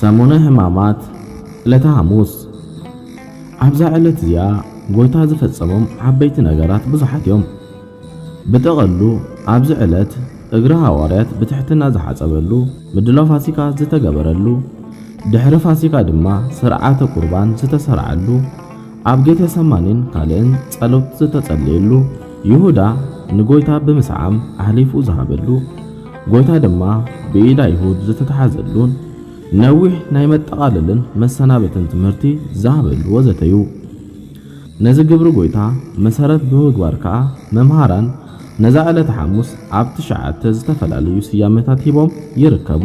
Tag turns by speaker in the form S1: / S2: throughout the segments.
S1: ሰሙነ ሕማማት ዕለተ ሓሙስ ኣብዛ ዕለት እዚኣ ጎይታ ዝፈጸሞም ዓበይቲ ነገራት ብዙሓት እዮም። ብጠቐሉ ኣብዚ ዕለት እግሪ ሃዋርያት ብትሕትና ዝሓጸበሉ፣ ምድላው ፋሲካ ዝተገበረሉ፣ ድሕሪ ፋሲካ ድማ ስርዓተ ቁርባን ዝተሰርዓሉ፣ ኣብ ጌቴሰማኒን ካልእን ጸሎት ዝተጸለየሉ፣ ይሁዳ ንጎይታ ብምስዓም ኣሕሊፉ ዝሃበሉ፣ ጎይታ ድማ ብኢድ ኣይሁድ ዝተታሕዘሉን ነዊሕ ናይ መጠቓለልን መሰናበትን ትምህርቲ ዝሃበሉ ወዘተ ዩ። ነዚ ግብሪ ጎይታ መሰረት ብምግባር ከኣ መምሃራን ነዛ ዕለተ ሓሙስ ኣብ ትሽዓተ ዝተፈላለዩ ስያመታት ሂቦም ይርከቡ።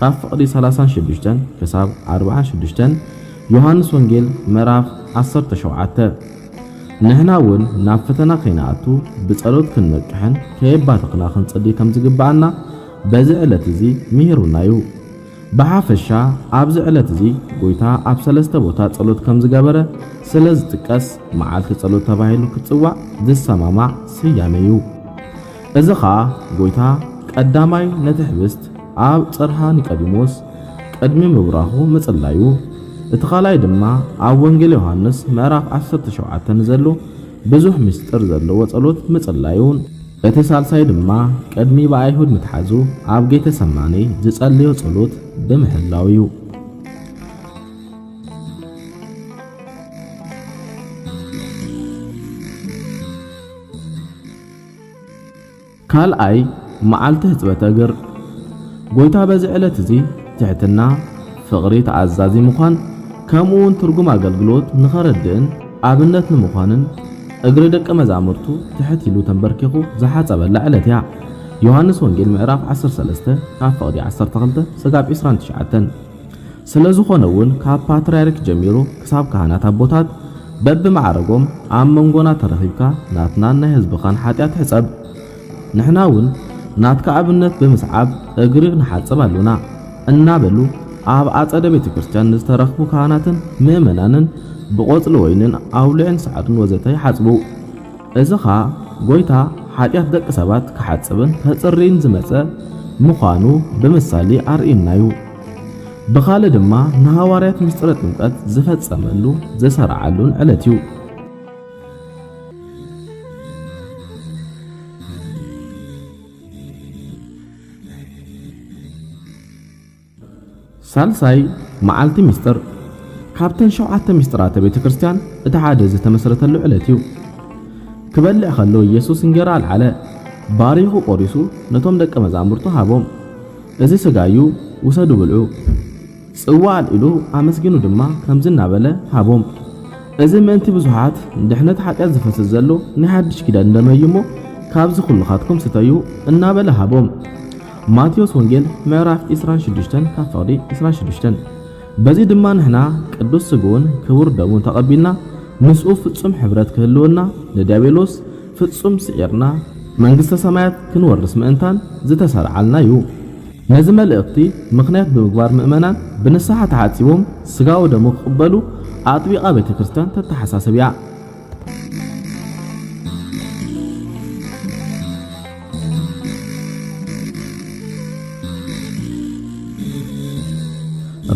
S1: ካብ ፍቕዲ ሰላሳን ሽዱሽተን ክሳብ ኣርብዓን ሽዱሽተን ዮሃንስ ወንጌል ምዕራፍ ዓሰርተ ሸውዓተ ንሕና እውን ናብ ፈተና ከይንኣቱ ብጸሎት ክንነቅሕን ከየባተኽና ክንጽሊ ከም ዝግብኣና በዚ ዕለት እዚ ምሂሩና እዩ። ብሓፈሻ ኣብዚ ዕለት እዚ ጎይታ ኣብ ሰለስተ ቦታ ጸሎት ከም ዝገበረ ስለ ዝጥቀስ መዓልቲ ጸሎት ተባሂሉ ክጽዋዕ ዝሰማማዕ ስያሜ እዩ። እዚ ኸኣ ጐይታ ቀዳማይ ነቲ ኅብስት ኣብ ጽርሃ ኒቀዲሞስ ቅድሚ ምብራኹ ምጽላዩ፣ እቲ ካልኣይ ድማ ኣብ ወንጌል ዮሓንስ ምዕራፍ ዓሰርተ ሸውዓተ ንዘሎ ብዙኅ ምሥጢር ዘለዎ ጸሎት ምጽላዩን፣ እቲ ሣልሳይ ድማ ቅድሚ ብኣይሁድ ምትሓዙ ኣብ ጌተ ሰማኔ ዝጸለዮ ጸሎት ብምሕላው እዩ። ካልኣይ መዓልቲ ሕጽበተ እግር ጎይታ በዚ ዕለት እዚ ትሕትና፣ ፍቕሪ፣ ተኣዛዚ ምዃን ከምኡውን ትርጉም ኣገልግሎት ንኸረድእን ኣብነት ንምዃንን እግሪ ደቀ መዛሙርቱ ትሕት ኢሉ ተንበርኪኹ ዝሓጸበላ ዕለት እያ። ዮሃንስ ወንጌል ምዕራፍ ዓሰርተ ሰለስተ ካብ ፍቕዲ ዓሰርተ ክልተ ስጋብ ዕስራን ትሽዓተን። ስለዝኾነ እውን ካብ ፓትርያርክ ጀሚሩ ክሳብ ካህናት ኣቦታት በብማዕረጎም ኣብ መንጎና ተረኺብካ ናትናን ናይ ህዝብኻን ሓጢኣት ሕጸብ ንሕና እውን ናትካ ኣብነት ብምስዓብ እግሪ ንሓጽብ ኣሎና እናበሉ ኣብ ኣጸደ ቤተ ክርስቲያን ንዝተረኽቡ ካህናትን ምእመናንን ብቆጽሊ ወይንን ኣውሊዕን ሰዓቱን ወዘተ ይሓጽቡ። እዚ ኸኣ ጐይታ ሓጢኣት ደቂ ሰባት ክሓጽብን ከጽርይን ዝመጸ ምዃኑ ብምሳሌ ኣርእዩና'ዩ። ብኻልእ ድማ ንሃዋርያት ምሥጢረ ጥምቀት ዝፈጸመሉ ዘሠርዓሉን ዕለት'ዩ። ሳልሳይ መዓልቲ ምስጢር ካብተን ሸውዓተ ምስጢራተ ቤተ ክርስቲያን እቲ ሓደ ዝተመስረተሉ ዕለት እዩ። ክበልዕ ከሎ ኢየሱስ እንጌራ ኣልዓለ፣ ባሪኹ ቆሪሱ ነቶም ደቀ መዛሙርቱ ሃቦም። እዚ ስጋይ እዩ ውሰዱ ብልዑ። ጽዋ ኣልዒሉ ኣመስጊኑ ድማ ከምዚ እናበለ ሃቦም፣ እዚ ምእንቲ ብዙሓት ንድሕነት ሓጢኣት ዝፈስስ ዘሎ ናይ ሓድሽ ኪዳን ደመይ እዩ እሞ ካብዚ ኩልኻትኩም ስተዩ እናበለ ሃቦም። ማቴዎስ ወንጌል ምዕራፍ ዕስራን ሽዱሽተን ካብ ፍቕዲ ዕስራን ሽዱሽተን በዚ ድማ ንሕና ቅዱስ ስግኡን ክቡር ደሙን ተቐቢልና ምስኡ ፍጹም ሕብረት ክህልወና ንዲያብሎስ ፍጹም ስዒርና መንግስተ ሰማያት ክንወርስ ምእንታን ዝተሰርዓልና እዩ። ነዚ መልእኽቲ ምኽንያት ብምግባር ምእመናን ብንስሓ ተሓጺቦም ስጋኡ ደሙ ክቕበሉ ኣጥቢቓ ቤተ ክርስቲያን ተተሓሳስብ እያ።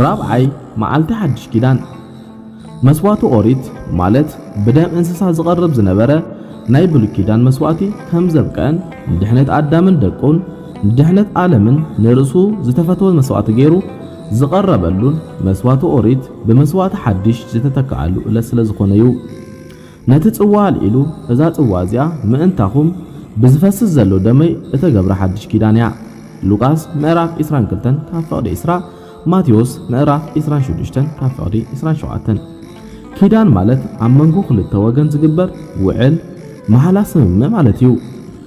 S1: ራብዓይ መዓልቲ ሓድሽ ኪዳን መስዋእቲ ኦሪት ማለት ብደም እንስሳ ዝቐርብ ዝነበረ ናይ ብሉይ ኪዳን መስዋእቲ ከም ዘብቀን ንድሕነት ኣዳምን ደቁን ንድሕነት ዓለምን ንርእሱ ዝተፈተወ መስዋእቲ ገይሩ ዝቐረበሉን መስዋቲ ኦሪት ብመስዋቲ ሓዲሽ ዝተተከኣሉ እለት ስለ ዝኾነዩ። ነቲ ጽዋ ኣልዒሉ እዛ ጽዋ እዚኣ ምእንታኹም ብዝፈስስ ዘሎ ደመይ እተገብረ ሓዲሽ ኪዳን እያ። ሉቃስ ምዕራፍ ዕስራን ክልተን ካብ ፍቕዲ ዕስራ ማቴዎስ ምዕራፍ ዕስራን ሽዱሽተን ካብ ፍቕዲ ዕስራን ሸውዓተን ኪዳን ማለት ኣብ መንጎ ክልተ ወገን ዝግበር ውዕል፣ ማሕላ፣ ስምምዕ ማለት እዩ።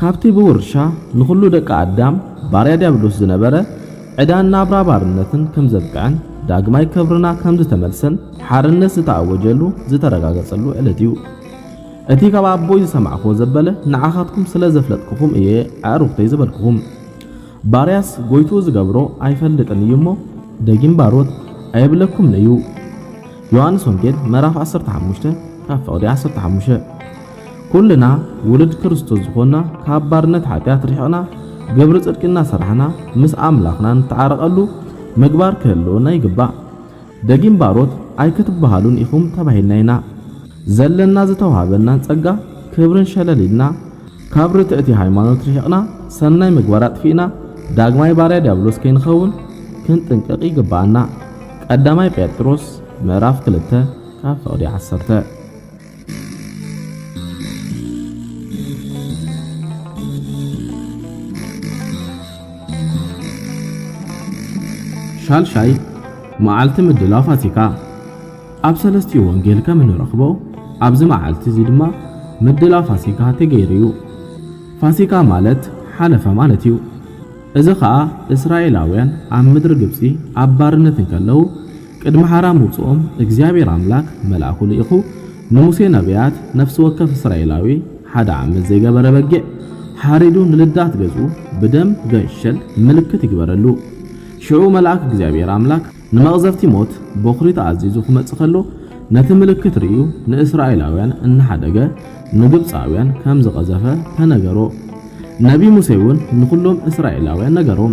S1: ካብቲ ብውርሻ ንኹሉ ደቂ ኣዳም ባርያ ድያብሎስ ዝነበረ ዕዳን ናብራ ባርነትን ከም ዘብቅዐን ዳግማይ ክብርና ከም ዝተመልሰን ሓርነት ዝተኣወጀሉ ዝተረጋገጸሉ ዕለት እዩ። እቲ ካብ ኣቦይ ዝሰማዕክዎ ዘበለ ንዓኻትኩም ስለ ዘፍለጥክኹም እየ ኣዕሩኽተይ ዝበልክኹም። ባርያስ ጎይትኡ ዝገብሮ ኣይፈልጥን እዩ እሞ ደጊም ባሮት ኣየብለኩምን እዩ። ዮሃንስ ወንጌል ምዕራፍ ዓሰርተ ሓሙሽተ ካብ ፍቕዲ ዓሰርተ ሓሙሽተ ኩልና ውሉድ ክርስቶስ ዝኾንና ካብ ባርነት ሓጢኣት ርሒቕና ግብሪ ጽድቂ እናሰራሕና ምስ ኣምላኽና ንተዓረቐሉ ምግባር ክህልወና ይግባእ። ደጊም ባሮት ኣይክትበሃሉን ኢኹም ተባሂልና ኢና። ዘለና ዝተውሃበናን ጸጋ ክብርን ሸለል ኢልና ካብ ርትዕቲ ሃይማኖት ርሒቕና ሰናይ ምግባር ኣጥፊእና ዳግማይ ባርያ ዲያብሎስ ከይንኸውን ክንጥንቀቕ ይግበኣና። ቀዳማይ ጴጥሮስ ምዕራፍ ክልተ ካብ ፍቕዲ ዓሰርተ ሻልሻይ መዓልቲ ምድላው ፋሲካ ኣብ ሰለስቲኡ ወንጌል ከም እንረኽቦ ኣብዚ መዓልቲ እዚ ድማ ምድላው ፋሲካ ተገይሩ እዩ። ፋሲካ ማለት ሓለፈ ማለት እዩ። እዚ ኸኣ እስራኤላውያን ኣብ ምድሪ ግብፂ ኣብ ባርነት እንከለዉ ቅድሚ ሓራ ምውጽኦም እግዚኣብሔር ኣምላክ መልኣኩ ልኢኩ ንሙሴ ነብያት ነፍሲ ወከፍ እስራኤላዊ ሓደ ዓመት ዘይገበረ በጊዕ ሓሪዱ ንልዳት ገዝኡ ብደም ገንሸል ምልክት ይግበረሉ ሽዑ መልኣክ እግዚኣብሔር ኣምላክ ንመቅዘፍቲ ሞት ቦክሪ ተኣዚዙ ክመጽእ ከሎ ነቲ ምልክት ርእዩ ንእስራኤላውያን እናሓደገ ንግብጻውያን ከምዝቀዘፈ ተነገሮ ነብይ ሙሴ ውን ንኩሎም እስራኤላውያን ነገሮም።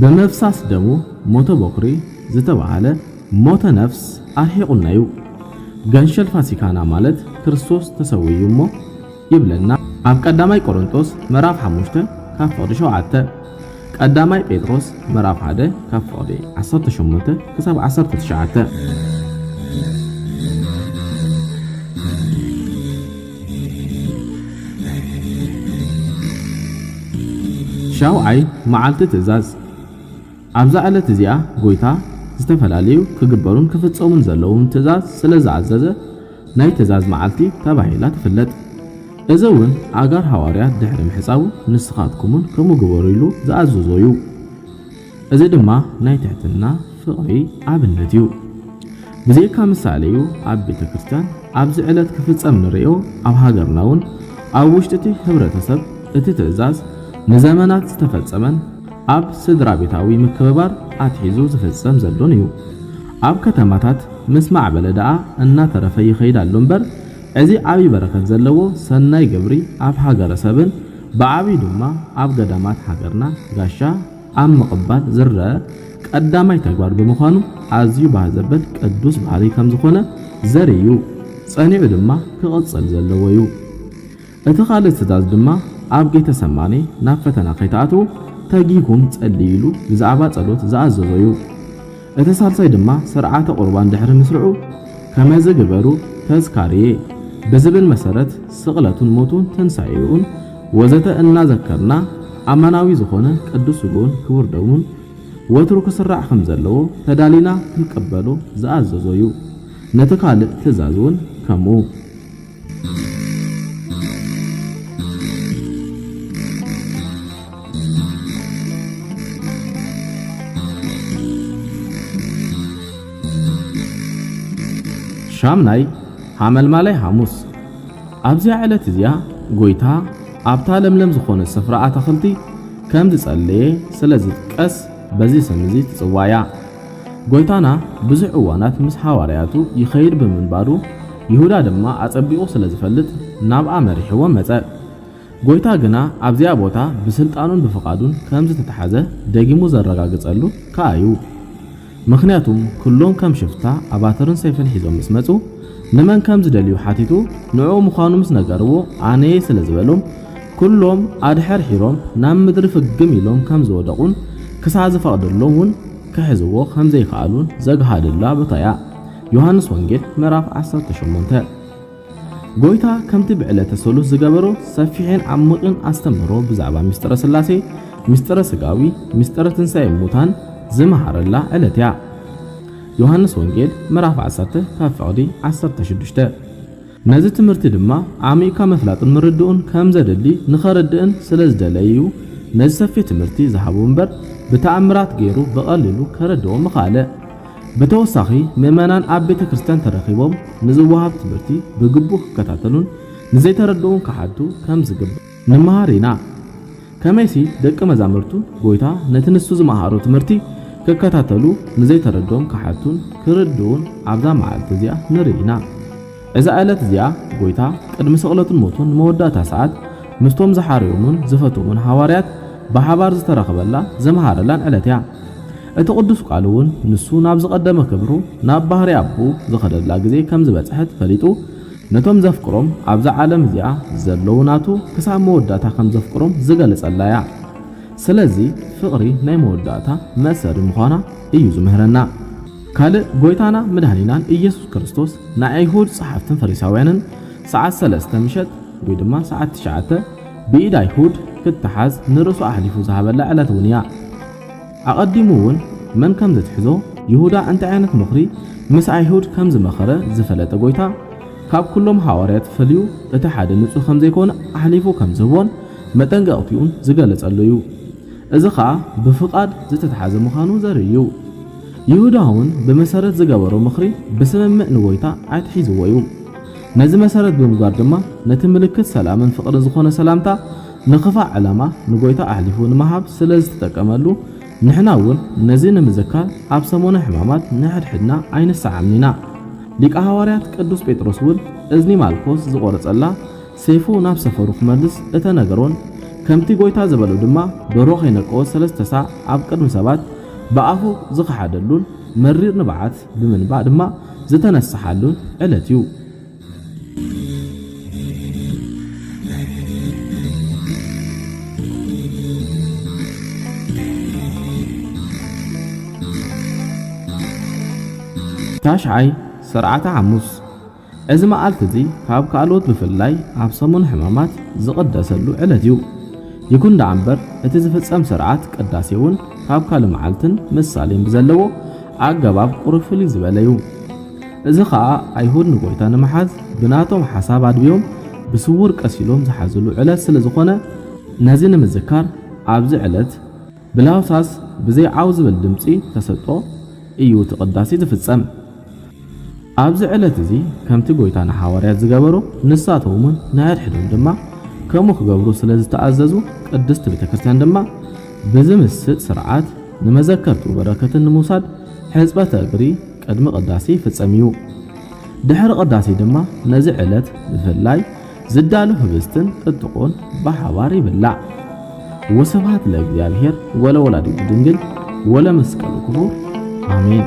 S1: ብምፍሳስ ደሙ ሞተ ቦኽሪ ዝተባህለ ሞተ ነፍስ ኣርሒቑና'ዩ። ገንሸል ፋሲካና ማለት ክርስቶስ ተሰዊዩ እሞ ይብለና ኣብ ቀዳማይ ቆሮንቶስ ምዕራፍ ሓሙሽተ ካብ ፍቕዲ ሸውዓተ፣ ቀዳማይ ጴጥሮስ ምዕራፍ ሓደ ካብ ፍቕዲ ዓሰርተ ሸሞንተ ክሳብ ዓሰርተ ትሽዓተ። ሻውዓይ መዓልቲ ትእዛዝ ኣብዛ ዕለት እዚኣ ጎይታ ዝተፈላለዩ ክግበሩን ክፍጸሙን ዘለዎም ትእዛዝ ስለ ዝኣዘዘ ናይ ትእዛዝ መዓልቲ ተባሂላ ትፍለጥ። እዚ እውን ኣእጋር ሃዋርያት ድሕሪ ምሕጻቡ ንስኻትኩምን ከምኡ ግበሩ ኢሉ ዝኣዘዞ እዩ። እዚ ድማ ናይ ትሕትና ፍቕሪ ኣብነት እዩ። ብዘይካ ምሳሌ እዩ ኣብ ቤተ ክርስቲያን ኣብዚ ዕለት ክፍጸም ንርእዮ ኣብ ሃገርና እውን ኣብ ውሽጢ እቲ ህብረተሰብ እቲ ትእዛዝ ንዘመናት ዝተፈጸመን ኣብ ስድራቤታዊ ምክብባር ኣትሒዙ ዝፍጸም ዘሎን እዩ። ኣብ ከተማታት ምስ ማዕበለ ደኣ እናተረፈ ይኸይድ ኣሎ እምበር እዚ ዓቢይ በረከት ዘለዎ ሰናይ ግብሪ ኣብ ሃገረሰብን ብዓቢዩ ድማ ኣብ ገዳማት ሃገርና ጋሻ ኣብ ምቕባል ዝረኣ ቀዳማይ ተግባር ብምዃኑ ኣዝዩ ባህ ዘበል ቅዱስ ባህሪ ከም ዝኾነ ዘርኢ እዩ። ጸኒዑ ድማ ክቕጽል ዘለዎ እዩ። እቲ ካልእ ትእዛዝ ድማ ኣብ ጌተ ሰማኔ ናብ ፈተና ከይትኣትዉ ተጊህኩም ጸልዩ ኢሉ ብዛዕባ ጸሎት ዝኣዘዞ እዩ። እቲ ሳልሳይ ድማ ስርዓተ ቁርባን ድሕሪ ምስርዑ ከመዚ ግበሩ ተዝካርየ ብዝብል መሰረት ስቕለቱን ሞቱን ትንሳኤኡን ወዘተ እናዘከርና ኣማናዊ ዝኾነ ቅዱስ ስግኡን ክቡር ደሙን ወትሩ ክስራዕ ከምዘለዎ ተዳሊና ክንቅበሎ ዝኣዘዞ ዩ። ነቲ ካልእ ትእዛዝ ውን ከምኡ። ሻምናይ ሓመልማላይ ሓሙስ ኣብዚያ ዕለት እዚኣ ጎይታ ኣብታ ለምለም ዝኾነት ስፍራ ኣታኽልቲ ከም ዝጸለየ ስለ ዝጥቀስ በዚ ስም እዚ ትጽዋዕ እያ። ጐይታና ብዙሕ እዋናት ምስ ሃዋርያቱ ይኸይድ ብምንባሩ፣ ይሁዳ ድማ ኣጸቢቑ ስለ ዝፈልጥ ናብኣ መሪሕዎ መጸ። ጐይታ ግና ኣብዚኣ ቦታ ብስልጣኑን ብፍቓዱን ከም ዝተታሕዘ ደጊሙ ዘረጋግጸሉ ከኣ እዩ። ምኽንያቱም ኩሎም ከም ሽፍታ ኣባትርን ሰይፍን ሒዞም ምስ መጹ፣ ንመን ከም ዝደልዩ ሓቲቱ ንዕኡ ምዃኑ ምስ ነገርዎ ኣነየ ስለ ዝበሎም፣ ኩሎም ኣድሐርሒሮም ናብ ምድሪ ፍግም ኢሎም ከም ዝወደቑን ክሳዕ ዝፈቕደሎም እውን ክሕዝዎ ከም ዘይከኣሉን ዘግሃደላ ቦታ እያ። ዮሃንስ ወንጌል ምዕራፍ ዓሰርተ ሸሞንተ ጎይታ ከምቲ ብዕለተ ሰሉስ ዝገበሮ ሰፊሕን ዓሚቚን ኣስተምህሮ ብዛዕባ ምስጢረ ሥላሴ፣ ምስጢረ ሥጋዊ፣ ምስጢረ ትንሣኤ እሙታን ዝመሃረላ ዕለት እያ። ዮሃንስ ወንጌል ምዕራፍ ዓሰርተ ካብ ፍቕዲ ዓሰርተ ሽዱሽተ ነዚ ትምህርቲ ድማ ኣዕሚቕካ ምፍላጥን ምርድኡን ከም ዘድሊ ንኸርድእን ስለ ዝደለየ'ዩ ነዚ ሰፊሕ ትምህርቲ ዝሃቦ እምበር ብተኣምራት ገይሩ ብቐሊሉ ከረድኦ ምኸኣለ። ብተወሳኺ ምእመናን ኣብ ቤተ ክርስቲያን ተረኺቦም ንዝወሃብ ትምህርቲ ብግቡእ ክከታተሉን ንዘይተረድኡ ክሓቱ ከም ዝግባእ ንመሃር ኢና። ከመይሲ ደቀ መዛሙርቱ ጐይታ ነቲ ንሱ ዝመሃሮ ትምህርቲ ክከታተሉ ንዘይተረድኦም ክሓቱን ክርድኡን ኣብዛ መዓልቲ እዚኣ ንርኢ ኢና። እዛ ዕለት እዚኣ ጐይታ ቅድሚ ስቕለቱን ሞቱን መወዳእታ ሰዓት ምስቶም ዝሓረዮሙን ዝፈትዎሙን ሃዋርያት ብሓባር ዝተራኸበላ ዘምሃረላን ዕለት እያ። እቲ ቅዱስ ቃል እውን ንሱ ናብ ዝቐደመ ክብሩ ናብ ባህርይ ኣቦኡ ዝኸደላ ግዜ ከም ዝበጽሐት ፈሊጡ ነቶም ዘፍቅሮም ኣብዛ ዓለም እዚኣ ዘለዉ ናቱ ክሳብ መወዳእታ ከም ዘፍቅሮም ዝገልጸላ እያ። ስለዚ ፍቕሪ ናይ መወዳእታ መእሰሪ ምዃና እዩ ዝምህረና። ካልእ ጎይታና መድኃኒናን ኢየሱስ ክርስቶስ ንኣይሁድ ጸሓፍትን ፈሪሳውያንን ሰዓት ሰለስተ ምሸት ወይ ድማ ሰዓት ትሽዓተ ብኢድ ኣይሁድ ክተሓዝ ንርእሱ ኣሕሊፉ ዝሃበላ ዕለት እውን እያ። ኣቐዲሙ እውን መን ከም ዚትሕዞ፣ ይሁዳ እንታይ ዓይነት ምኽሪ ምስ ኣይሁድ ከም ዝመኸረ ዝፈለጠ ጐይታ፣ ካብ ኵሎም ሃዋርያት ፈልዩ እቲ ሓደ ንጹህ ከም ዘይኰነ ኣሕሊፉ ከም ዚህቦን መጠንቀቕትኡን ዝገለጸሉ እዩ። እዚ ኸኣ ብፍቓድ ዝተታሕዘ ምዃኑ ዘርኢ እዩ። ይሁዳ እውን ብመሰረት ዝገበሮ ምኽሪ ብስምምዕ ንጐይታ ኣትሒዝዎ እዩ። ነዚ መሰረት ብምግባር ድማ ነቲ ምልክት ሰላምን ፍቕርን ዝዀነ ሰላምታ ንክፋእ ዕላማ ንጎይታ ኣሕሊፉ ንምሃብ ስለ ዝትጠቀመሉ ንሕና እውን ነዚ ንምዝካር ኣብ ሰሙነ ሕማማት ንሕድሕድና ኣይንሰዓምን ኢና። ሊቀ ሃዋርያት ቅዱስ ጴጥሮስ እውን እዝኒ ማልኮስ ዝቆረጸላ ሴፉ ናብ ሰፈሩ ክመልስ እተነገሮን ከምቲ ጎይታ ዝበሎ ድማ ደርሆ ከይነቀወ ሰለስተ ሳዕ ኣብ ቅድሚ ሰባት ብኣፉ ዝኸሓደሉን መሪር ንብዓት ብምንባዕ ድማ ዝተነሰሓሉን ዕለት እዩ። ታሽዓይ ስርዓተ ሓሙስ እዚ መዓልቲ እዚ ካብ ካልኦት ብፍላይ ኣብ ሰሙን ሕማማት ዝቕደሰሉ ዕለት እዩ። ይኹን ደኣ እምበር እቲ ዝፍጸም ስርዓት ቅዳሴ እውን ካብ ካልእ መዓልትን ምሳሌን ብዘለዎ ኣገባብ ቁሩብ ፍልይ ዝበለ እዩ። እዚ ኸኣ ኣይሁድ ንጐይታ ንምሓዝ ብናቶም ሓሳብ ኣድብዮም ብስዉር ቀሲሎም ዝሓዝሉ ዕለት ስለ ዝዀነ ነዚ ንምዝካር ኣብዚ ዕለት ብለሆሳስ ብዘይ ዓው ዝብል ድምጺ ተሰጦ እዩ እቲ ቅዳሴ ዝፍጸም። ኣብዚ ዕለት እዚ ከምቲ ጐይታ ንሓዋርያት ዝገበሮ ንሳቶም እውን ንሕድሕዶም ድማ ከምኡ ክገብሩ ስለ ዝተኣዘዙ ቅድስቲ ቤተ ክርስቲያን ድማ ብዝምስጥ ስርዓት ንመዘከርቱ በረከትን ንምውሳድ ሕጽበተ እግሪ ቅድሚ ቅዳሴ ይፍጸም እዩ። ድሕሪ ቅዳሴ ድማ ነዚ ዕለት ብፍላይ ዝዳሉ ህብስትን ጥጥቆን ብሓባር ይብላዕ። ወስብሃት ለእግዚኣብሔር ወለወላዲቱ ድንግል ወለመስቀሉ ክቡር ኣሜን።